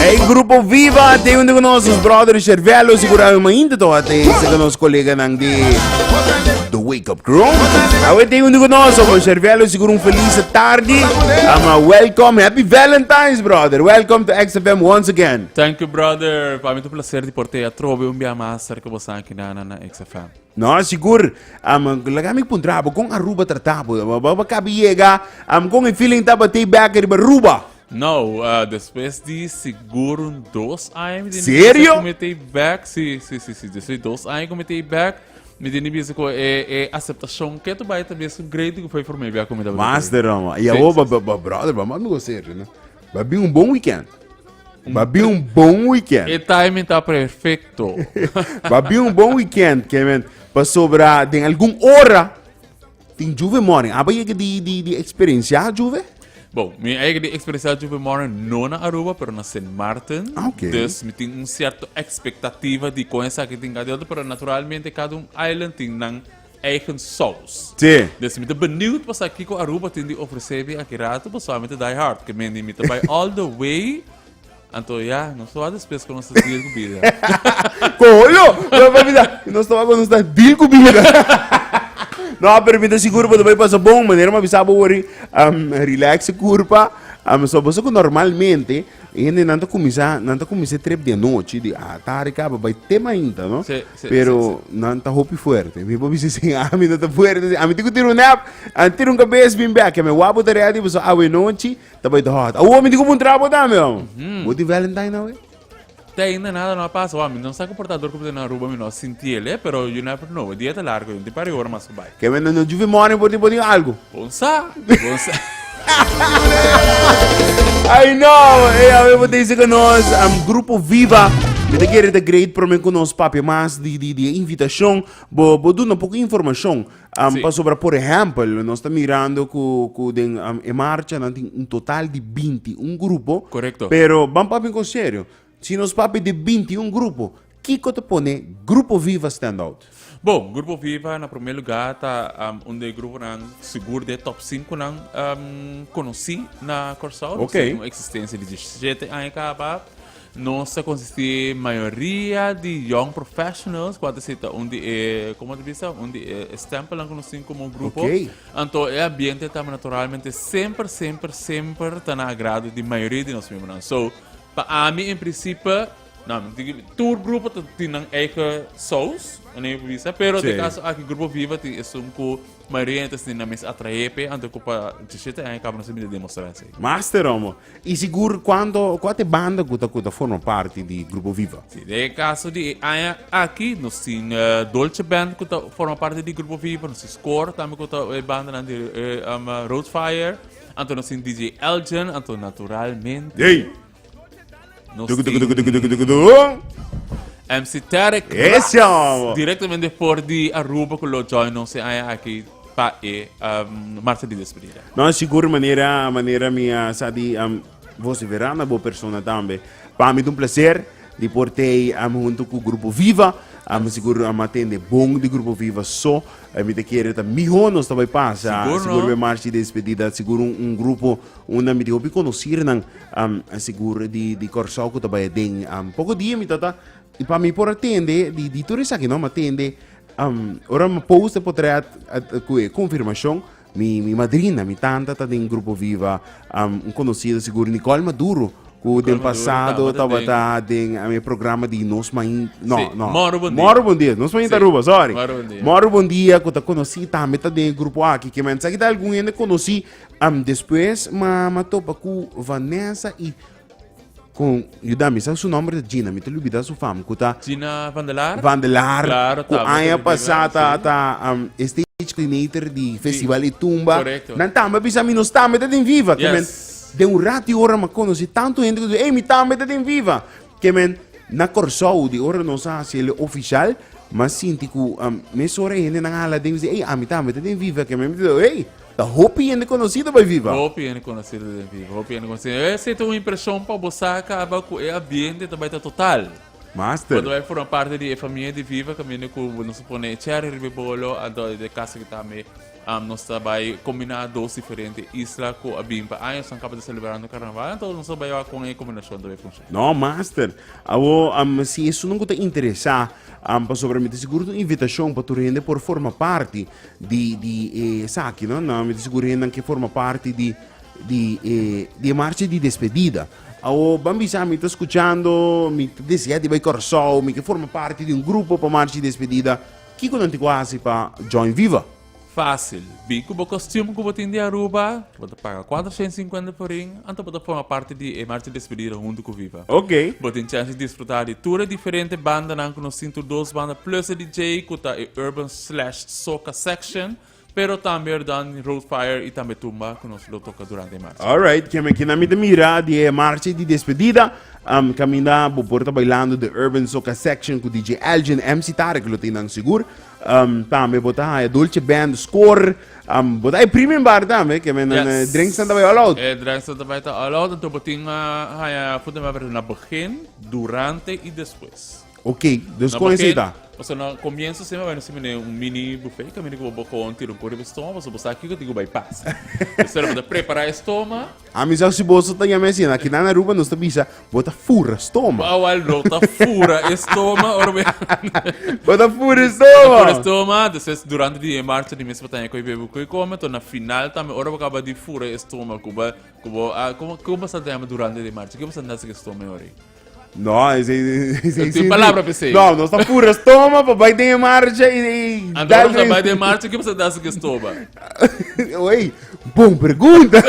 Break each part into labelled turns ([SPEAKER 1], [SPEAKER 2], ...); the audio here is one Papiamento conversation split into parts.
[SPEAKER 1] Ey grupo viva te un de nos brother Cervelo segura ma inte to ate se nos colega nan di The Wake Up Crew. Awe te un de nos con Cervelo segura un feliz tarde. Ama welcome happy Valentine's brother. Welcome to XFM once again. Thank you brother,
[SPEAKER 2] pa mi ta un placer di por te atrobe un bia mas cerca bosa aki na na na XFM. No, sigur.
[SPEAKER 1] Am laga mi puntra bo kon Aruba trata bo. Bo bo bo kabi yega am kon e feeling tabatei back riba Aruba. No, ah,
[SPEAKER 2] despues di sigur un dos aña mi tene bieze Serio? ku metei
[SPEAKER 1] back,
[SPEAKER 2] si, si, si, si, despues di dos aña ku metei back, mi tene bieze ku e e aseptashon ke tu bai ta bieze un great di ku for mi a bia ku mi tabata Mas di roma. E awo, Sesi,
[SPEAKER 1] ba, si. ba, ba, brother, ba mas mi go serio, no. Ba bin un bon weekend. Ba bin un bon weekend. E timing ta
[SPEAKER 2] perfecto. Ba bin
[SPEAKER 1] un bon weekend, Kevin. Pasobra den algun ora tin juve morning. Aba yega di, di, di experiencia juve? Bon, mi
[SPEAKER 2] eigen di experiencia juve morning no na Aruba, pero na Sint Maarten. Ah, oké. Dus mi tin
[SPEAKER 1] un
[SPEAKER 2] cierto expectativa di con esaki tin ka di otro, pero naturalmente cada un island tin nan eigen sous. Sí. Des mi ta
[SPEAKER 1] beniut pa
[SPEAKER 2] sa kiko Aruba tin di ofresé mi aki rato pasobra mi ta die hard ke mendi mi ta bai all the way anto ya nos ta wak despues kon nos ta deal ku bida. Kolo! Lo pa
[SPEAKER 1] bisa nos ta wak kon nos ta deal ku bida. No, pero mi ta sigur bo ta bai pasa bon manera mi a bisa bo wòrdu. Am relax e kurpa, am so boso ku normalmente. E hende nan ta kuminsá, nan ta kuminsá trep di anochi, di a tarde kaba bai te mainta, no? Sí, sí, Pero sí, sí. nan ta hopi fuerte. Mi pa bisa sin ami nan ta fuerte. sin. Ami ti ku tira un nap, an tira un kabes bin bek. Mi wapu ta real di boso awe nochi, ta bai ta hot. Awo mi ti ku puntra bo tambe, amo. Bo tin Valentine awe? Te ainda
[SPEAKER 2] nada no a pasa hoor, mi no sa cu portador cu bo ta na Aruba mi no a sinti el eh, pero you never know, e dia ta largo yunti pare y ora mas cu bay. Kevin, no juvi morning
[SPEAKER 1] por tin por tin algo. Bon sa, bon
[SPEAKER 2] sa.
[SPEAKER 1] Ay no, ey a ver bo ta dice cu nos, um, grupo Viva. Mi ta kere ta great prome cu nos papia mas di di di e invitacion. Bo bo duna poco informacion. Um, pasobra, por ejemplo, nos está mirando que den um, e marcha no tiene un total de 21 grupos. Correcto. Pero, vamos
[SPEAKER 2] papi con
[SPEAKER 1] serio. Si nos papi de 21 grupos, Kiko te pone Grupo Viva Stand Out? Bom, Grupo Viva,
[SPEAKER 2] na primer lugar, está um, un de grupo nan, seguro de top 5 nan um, conocí na Corsao. Okay. Tiene una existencia
[SPEAKER 1] de
[SPEAKER 2] 17 años acaba. Nos ta konsisti mayoria di young professionals ku a ta sita un di e, komo ta bisa, un di e stempelnan ku nos tin komo grupo. Oké. Anto e
[SPEAKER 1] ambiente
[SPEAKER 2] ta naturalmente semper, semper, semper ta na agrado di mayoria di nos miembronan. So, pa ami en prinsipio, no, mi tin ki, tur grupo ta tin nan eigen sous, anto mi por bisa, pero den Sí. kaso aki Grupo Viva tin esun ku mayoria hende ta sinti nan mes atraé p'e, anto ku pa dicissiete aña kaba nos a mira demostrá esei. Master, amo.
[SPEAKER 1] I sigur cuanto cu a te banda cu ta cu ta forma parti di Grupo Viva? Si, den e caso di
[SPEAKER 2] e aña aki nos tin Dolce Band cu ta forma parti di Grupo Viva, nos tin Score tambe cu ta e bandanan di Road Fire, anto nos tin DJ Elgin, anto naturalmente
[SPEAKER 1] nos tin
[SPEAKER 2] MC Tarek Ras
[SPEAKER 1] directamente for di
[SPEAKER 2] Aruba cu lo join nos e aña aki. Pa e Martha di despedida. No, sigur manera
[SPEAKER 1] manera mi a sa di am vociferá na bo persona tambe. Pa mi ta un placer di por tei am hunto ku Grupo Viva. Am sigur am a tende bon di Grupo Viva so. Eh, mi ta kere ta mihó nos ta bai pasa. Sigur, Sigur no? be marchi despedida, sigur un, un grupo unda mi di hopi conocernan am sigur di di Kòrsou ku ta bai aden. Am poko dia mi ta ta i pa mi por a tende di di tur esaki no, am a tende Um, ora mi post e potret cu e confirmacion, mi, mi madrina, mi tanta ta den grupo viva, um, un conocido seguro, Nicole Maduro, cu den pasado tava
[SPEAKER 2] ta
[SPEAKER 1] den
[SPEAKER 2] um, e
[SPEAKER 1] programa di Nos Main, no, sí. no. Moro Bon Dia. Moro
[SPEAKER 2] Bon Dia, Nos Main sí. Taruba,
[SPEAKER 1] sorry. Moro Bon
[SPEAKER 2] Dia.
[SPEAKER 1] Moro Bon
[SPEAKER 2] Dia, cu ta
[SPEAKER 1] conocí tambe ta den grupo aquí, que mensaje ta algun hende conocí, um, después ma, ma topa cu Vanessa y Con yuda mi sa su nomber ta Gina, mi ta lubida su fam cu ta Gina van der Laar? Van
[SPEAKER 2] der Laar, Claro,
[SPEAKER 1] cu tabla aña
[SPEAKER 2] pasa
[SPEAKER 1] ta, ta um, stage coordinator di Festival y Tumba. Correcto. Nan tambe bisa
[SPEAKER 2] mi, nos
[SPEAKER 1] tambe ta den Viva. Yes. men, den un rati
[SPEAKER 2] ora ma
[SPEAKER 1] conoci tanto gente cu dice, hey, mi tambe ta den Viva. Que men, na Corsou, di ora nos a hacele oficial, ma sinti cu um, mes ora gente nan hala den, hey, ami tambe ta den Viva. Que men mi ta hey, Ta hopi hende conocido bay viva. Hopi hende conocido den
[SPEAKER 2] viva. Hopi hende conocido. E sete un impresion pa bo sa caba cu e ambiente ta bay ta total. Master. Cuando bay
[SPEAKER 1] forma parte
[SPEAKER 2] di e famia di viva caminda cu nos a pone e cherry riba e bolo anto e caso cu tambe nos ta bay combina dos diferente isla cu a bin pa añosnan caba ta celebrando carnaval anto nos a bay wak con e combinacion ta bay funciona. No master.
[SPEAKER 1] Awo si esun nan cu ta interesa pasobra mi ta sigur ta un invitacion pa tur hende por forma parti di di e esaki no na mi ta seguro hendan ke forma parti di di e di e marcha di despedida awo ban bisa mi ta skuchando mi ta desea di bai Kòrsou mi ke forma parti di un grupo pa marcha di despedida kiko nan tin ku hasi pa join viva. Fásil,
[SPEAKER 2] Bi ku bo kostium ku bo tin di Aruba, bo ta paga kuater shèn sinkuenta forin, anto bo ta forma parti di e marcha di despedida huntu ku Viva. Oke. Bo tin chèns di
[SPEAKER 1] disfrutá
[SPEAKER 2] di tur e diferente bandanan ku nos tin tur dos banda plus e DJ ku ta e Urban slash soca section pero tambe dan road fire y tambe tumba cu nos lo toca durante e marcha. Alright, kieme kina mi ta
[SPEAKER 1] mira di e marcha di despedida, um, kaminda bo por ta bailando de Urban Soca Section ku DJ Elgin, MC Tarek lo tin nan sigur. Um, tambe bo ta haya Dolce Band, Score, um, bo ta e premium bar tambe, kieme nan yes. Eh, drinks tambe all
[SPEAKER 2] out. E
[SPEAKER 1] drinks tambe ta all
[SPEAKER 2] out, entonces bo tin uh, haya food and beverage na begin, durante y despues. Ok, dus
[SPEAKER 1] kon esi ta.
[SPEAKER 2] Pasobra
[SPEAKER 1] na comienzo
[SPEAKER 2] siempre bai nos mene un mini buffet, que mene que bo con tiro un puri bestoma, pasobra bo sa aquí que digo bai pas. Entonces lo bota prepara estoma. A mí sa si bo sa
[SPEAKER 1] ya me si na kina na Aruba nos ta bisa bota fura estoma. Ba wal no ta
[SPEAKER 2] fura estoma or be. Bota
[SPEAKER 1] fura estoma. Fura estoma, después
[SPEAKER 2] durante di marcha di mes bota ko bebe ko come, to na final tambe ora bo acaba di fura estoma, kuba kuba a kuba kuba sa durante di marcha, kuba sa nasa estoma ori. No, is
[SPEAKER 1] ei is ei
[SPEAKER 2] Tin palabra pa esei. No, nos ta pura stoma
[SPEAKER 1] pa bai den e marcha i i Anto dal sa bai den
[SPEAKER 2] marcha ke sa dasa ke stoba. Oi,
[SPEAKER 1] bon pregunta.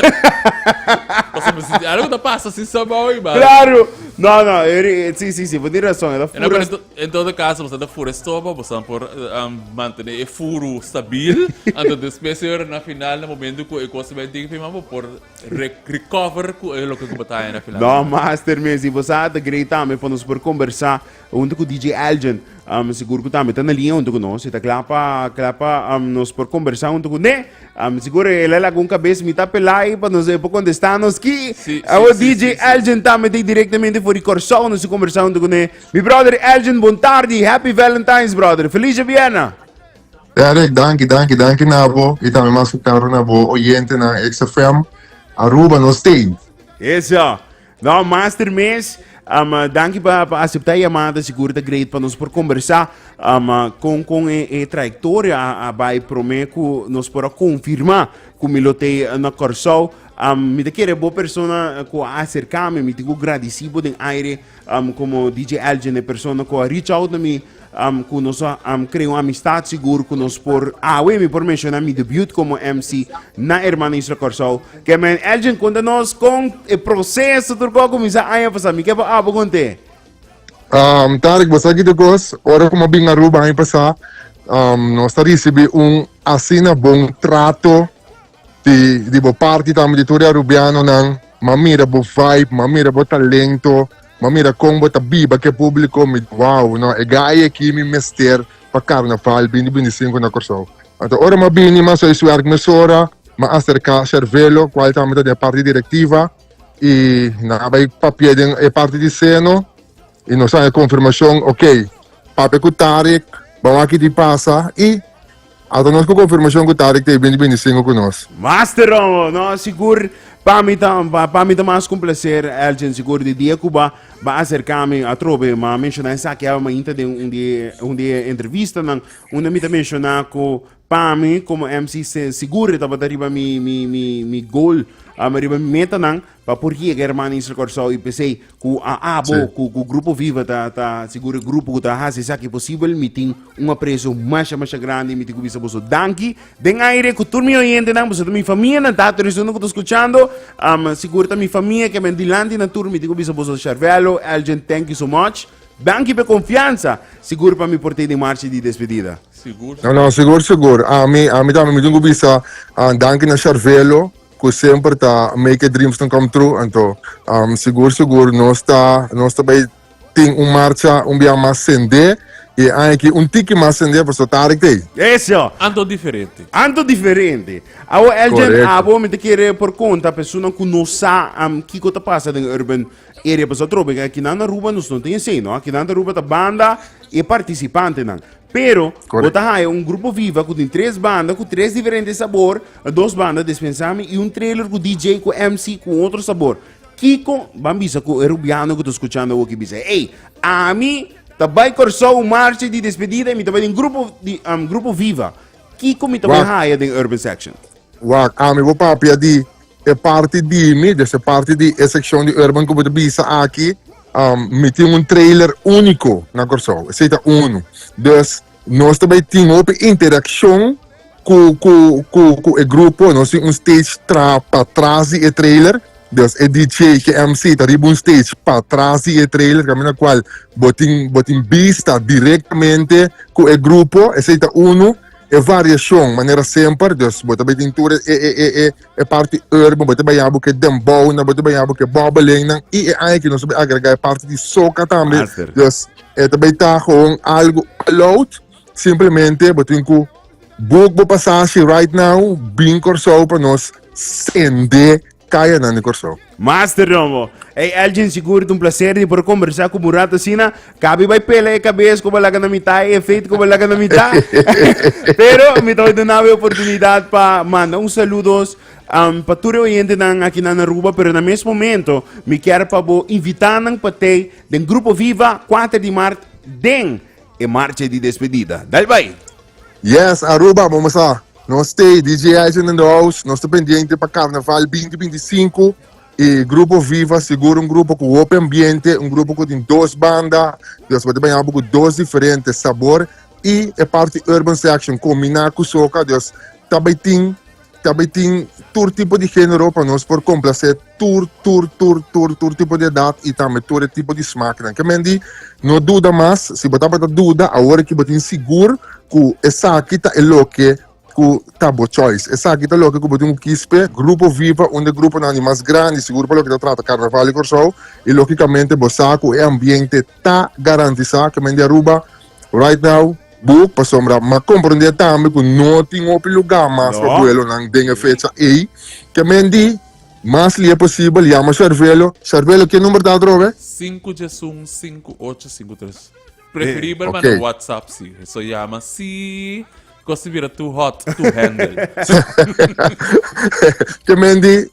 [SPEAKER 1] Pasa
[SPEAKER 2] me sinti algo ta pasa si sa bau i bal. Claro. No, no,
[SPEAKER 1] eri si si si, bo tin rason, e ta Ena pura. pero en todo caso bosa
[SPEAKER 2] ta fura estoba, bosa por um, mantene e furu stabil, anto despues e ora na final na momento ku e cosa bai dik fi man bo por Re recover cu e loke cu bataya na final. No, master mes, y
[SPEAKER 1] vos a te grei tambe pa nos por conversa junto con DJ Elgin. Um, seguro que tambe está na línea junto con nos. Está claro pa, claro pa um, nos por conversa junto con él. Um, seguro él es algún cabeza mitad pelai pa nos eh, por contestar nos aquí. Sí, Ah, sí, oh, sí, DJ sí, sí.
[SPEAKER 2] Elgin tambe está directamente
[SPEAKER 1] voor die Corsou nos conversa junto con él. Mi brother Elgin, bon tarde. Happy Valentine's, brother. Feliz Vienna. Ya Rick,
[SPEAKER 3] danki, danki, danki na bo y tambe mas ku karo na bo oyentenan XFM Aruba no stay. Eso.
[SPEAKER 1] No, master mes. Um, danki pa, pa acepta llamada. Seguro ta great pa nos por conversa. Um, con, con e, e trayectoria a, a bai prome cu nos por a confirma cu mi lo te na Corsou. Um, mi te kere bo persona cu a acercame, mi te cu gradicibo den aire um, como DJ Elgin, e persona cu a reach out na mi Am ku nos a am krea un amistat sigur ku nos por awe mi por menshona mi debut komo MC na Hermano Isla Kòrsou ke men Elgin konta nos kon e proseso tur kos a kuminsá aña pasá mi ke por abo kon te. Um
[SPEAKER 3] Tarik bo sa kiko kos ora ku mi a bin Aruba aña pasá um nos ta risibi un asina bon trato. Di di bo parti tambe di tur e arubianonan, m'a mira bo vibe, m'a mira bo talento, m'a mira kon bo ta biba ku e publiko, mi wow no e gai aki mi mester pa karnaval bini bini sinku na Kòrsou. Anto ora m'a bini m'a soi sui arki mesora, m'a aserká Shervelo kual tambe ta den e parti direktiva i nan a bai papia den e parti di seno, Y nos a haña confirmacion, ok, papia cu Tarek ba wak di pasa y ata nos cu confirmacion cu Tarek ta e bini bini singo cu nos. Master Romo, no,
[SPEAKER 1] sigur, pa mi ta, pa, pa mi ta mas con placer, Elgin, sigur, di dia cu ba, ba acerca mi atrobe, ma menciona esaki aba mainta den un di, un di e entrevistanan, unda mi ta menciona cu, Pa mi como MC sigur e tabata riba mi mi mi mi goal um, riba mi metanan pa por yega hermano Isla Corsao y pesey cu a abo Sí. cu cu grupo viva ta ta sigur e grupo cu ta haci esaki posible mi tin un aprecio masha masha grandi mi tin cu bisa boso danki den aire cu tur mi oyentenan boso ta mi famia nan tato esun cu ta scuchando um sigur ta mi famia que a ben dilanti nan tur mi tin cu bisa boso Sharvelo Elgin thank you so much Danki p'e konfiansa. Sigur pa mi por tei den marchi di despedida? Sigur, sigur. No, sigur,
[SPEAKER 2] sigur.
[SPEAKER 3] Ami, ami tambe mi tin ku bisa danki na Sharvelo ku semper ta make e dreamsnan come true. Anto, sigur, sigur nos ta, nos ta bai tin un marcha un biaha mas sendé i e aña aki un tiki mas sendé pasobra tarde ku tei. Eso! Anto
[SPEAKER 1] diferente.
[SPEAKER 2] Anto diferente.
[SPEAKER 1] Awo Elgin, Korekto. abo mi ta kere
[SPEAKER 3] por
[SPEAKER 1] konta pesonan ku no sa kiko ta pasa den Urban E repasador be ka kinan Aruba nos no tin esei no. Kinan ta Aruba ta banda e participantenan. Pero Correct. bo ta haya un
[SPEAKER 3] grupo viva
[SPEAKER 1] ku tin tres banda ku tres diferente sabor, dos banda des pensami i un trailer ku DJ ku MC ku otro sabor. Kiko ban bisa ku e rubiano ku ta skuchando awoki bisa, ey, ami ta bai Kòrsou marcha di despedida i mi ta bai den grupo di um, grupo viva. Kiko mi ta bai Wak. haya den urban section? Wak, ami
[SPEAKER 3] bo papia di E parti di mi, des e parti di e sekshon di Urban ku bo ta bisa aki, mi tin un trailer úniko na Kòrsou, esei ta unu. Des nos ta bai tin hopi interakshon ku ku ku ku e grupo, nos tin un stage tra patras di e trailer, des e DJ ku e MC ta riba un stage patras di e trailer kaminda na kual bo tin bo tin bista direktamente ku e grupo, esei ta unu. E variashon, manera semper, dus bo ta bai tin tur e e e e parti urban, bo ta bai habo ke dembownan, bo ta bai habo ke bobelingnan i e aña aki nos a bai agregá e parti di soca tambe, dus e
[SPEAKER 1] ta bai
[SPEAKER 3] ta gewoon algo all out, simplemente bo tin ku book bo pasashi right now, bin Kòrsou pa nos sende Kayanan di Kòrsou. Master Rongo,
[SPEAKER 1] ey Elgin sigur ta un placer di por conversa cu Murat asina, cabi bay pela e cabes cu bo laga na mita y e feet cu bo laga na mita, pero mi ta bay dunabo e oportunidad pa manda un saludos um, pa tur e oyentenan akinan na Aruba, pero na mes momento mi kier pa bo invita nan pa tey den Grupo Viva kuater di maart den e marcha di despedida. Dal bay! Yes,
[SPEAKER 3] Aruba, momo sa. Nos stay DJ Island in the house. Nos ta pendiente pa Carnaval binti binti i sinku. E grupo Viva sigur un grupo ku hopi ambiente, un grupo ku tin dos banda. Dios manda baña bo ku dos diferente sabor. I e parti urban section kombiná ku soca. Dios ta bai tin ta bai tin tur tipo di género pa nos por komplase. tur tur tur tur tur tipo di edat y tambe tur e tipo di smaknan ke men di no duda mas si bo tabata duda awor aki bo tin sigur ku esaki ta e loke ku ta bo choice esaki ta loke ku bo tin ku kis p'e grupo viva un de gruponan di mas grandi sigur pa loke ta trata karnaval di Kòrsou y lógikamente bo sa ku e ambiente ta garantisa ke men di Aruba right now book pasobra m'a komprende tambe ku no tin hopi luga mas pa buelonan den e fecha ey ke men di. Mas lia posibel, yama Sharvelo. Sharvelo, ke number ta atrobe? Sinku djes un, sinku ocho,
[SPEAKER 2] sinku tres. Preferibel manda un whatsapp si.
[SPEAKER 3] So
[SPEAKER 2] yama si kos ta bira tu hot, tu handle.
[SPEAKER 3] Ke mendi,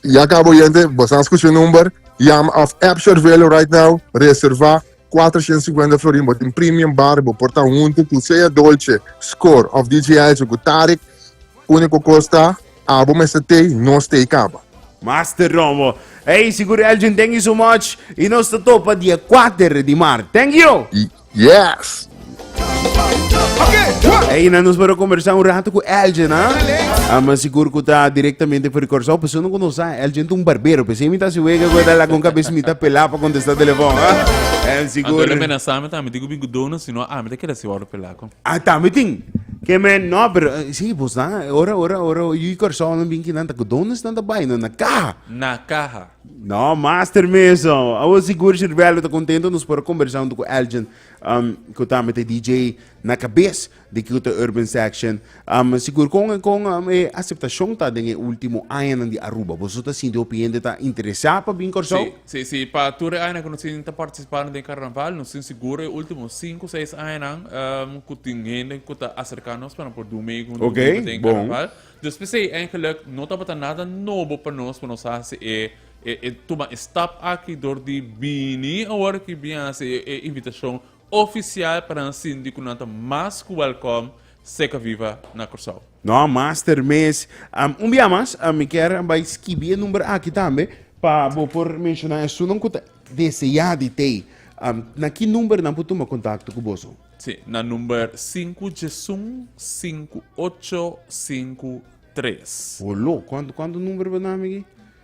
[SPEAKER 3] ya kaba oyente, boso a skucha e number, yama of app Sharvelo right now, reserva kuater shent singwenta florin, bo tin premium bar, bo por ta huntu ku sea Dolce, Skor of DJ Izo ku Tarek, úniko kos ta. Abo mester tei nos tei kaba. Master Rombo.
[SPEAKER 1] Ey sigur Elgin thank you so much y nos ta topa di e kuater di mart thank you. Y yes.
[SPEAKER 4] Ey na nos para conversa
[SPEAKER 1] un rato cu Elgin ha ah, mas sigur cu ta directamente for Curaçao persona cu nos sa Elgin ta un barbero pe si mi ta si wega cu ta la con cabeza mi ta pela pa contesta telefon ha en sigur Anto le mena sa mi ta mi digo
[SPEAKER 2] bin cu dona si no a mi ta keda si wou lo pela. Ah, tambe tin.
[SPEAKER 1] Ke men, no, pero eh, sí, vos dan, eh, ora, ora, ora, yo y Corsao no bien que dan, taco, ¿dónde están de baile? No, na caja. Na caja.
[SPEAKER 2] No, master
[SPEAKER 1] meso. Awo sigur Sirvelo ta contento nos por conversar junto con Elgin, um, que tambe te DJ na cabez de Kyoto Urban Section. Am sigur kon e kon am e aseptashon ta den e ultimo añanan di Aruba? Boso ta sinti hopi hende ta interesá pa bin Kòrsou? Sí, sí, sí. Pa tur
[SPEAKER 2] e añanan ku nos tin ta partisipá den karnaval, nos tin sigur e ultimo sinku, seis añanan ku tin hende ku ta aserká nos pa nan por dun meegun, dun meegun den e karnaval. Dus
[SPEAKER 1] p'esei
[SPEAKER 2] eigenlik no tabata nada nobo pa nos pa nos hasi e e tuma e stap aki dor di bini awor aki bin hasi e invitashon ofisial pa nan sinti ku nan ta mas ku wèlkòm Seca viva na Cursao. No master
[SPEAKER 1] mes am un bia mas a mi kier bai skibi e number aki tambe pa bo por menshona esunnan ku ta deseá di tei am na ki number nan por tuma kontakto ku boso? Si, na number
[SPEAKER 2] sinku djesun sinku ocho sinku tres. Holo, kuantu kuantu
[SPEAKER 1] number bo nami aki?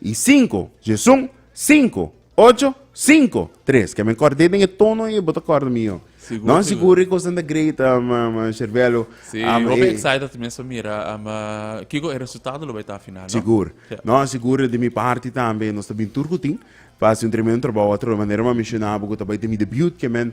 [SPEAKER 1] I sinku, Jesun, sinku, ocho, sinku, tres. Ke men kòrd'é den e tono ei, bo ta kòrda mi io. Sigur, Nòt sigur. sigur e kosnan ta great, um, um, uh, Sherbelo. Si, Um, hopi e-
[SPEAKER 2] excited mes pa mira um, uh, kiko e resultado lo bai ta final, no? Sigur. Ja. No,
[SPEAKER 1] sigur de mi parti tambe. Nos ta bin tur ku tin. Pa hasi un tremendo trabou atrobe. Manera mi a menshonabo ku ta bai ta mi debut, ke men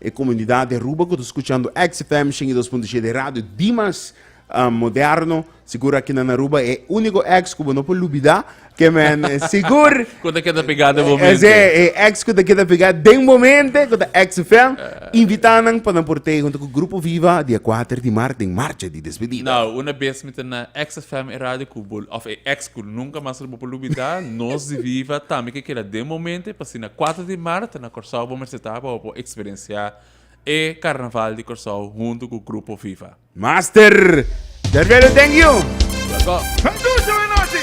[SPEAKER 1] E komunidat di Aruba ku ta skuchando XFM shen i dos punto siete, e radio di mas ah, moderno, sigur aki nan Aruba, e úniko X ku bo no por lubidá, ke men eh, sigur Ku ta keda pegá
[SPEAKER 2] den momente. Ese e ex ku ta
[SPEAKER 1] keda pegá den momente ku ta XFM. Invitá nan pa nan por tei huntu ku Grupo Viva dia kuater di mart den marcha di despedida. Nau, una bes mi ta
[SPEAKER 2] na XFM, e radio ku bo, òf e ex ku nunka mas lo bo por lubidá, nos di Viva tambe ke keda den momente, pa asina kuater di mart, Kòrsou bo mester ta pa bo por eksperensiá e Karnaval di Kòrsou huntu ku Grupo Viva.
[SPEAKER 1] Master
[SPEAKER 2] Derbelo thank
[SPEAKER 1] you. Welkom.
[SPEAKER 2] Hei Susi, buenas nochi!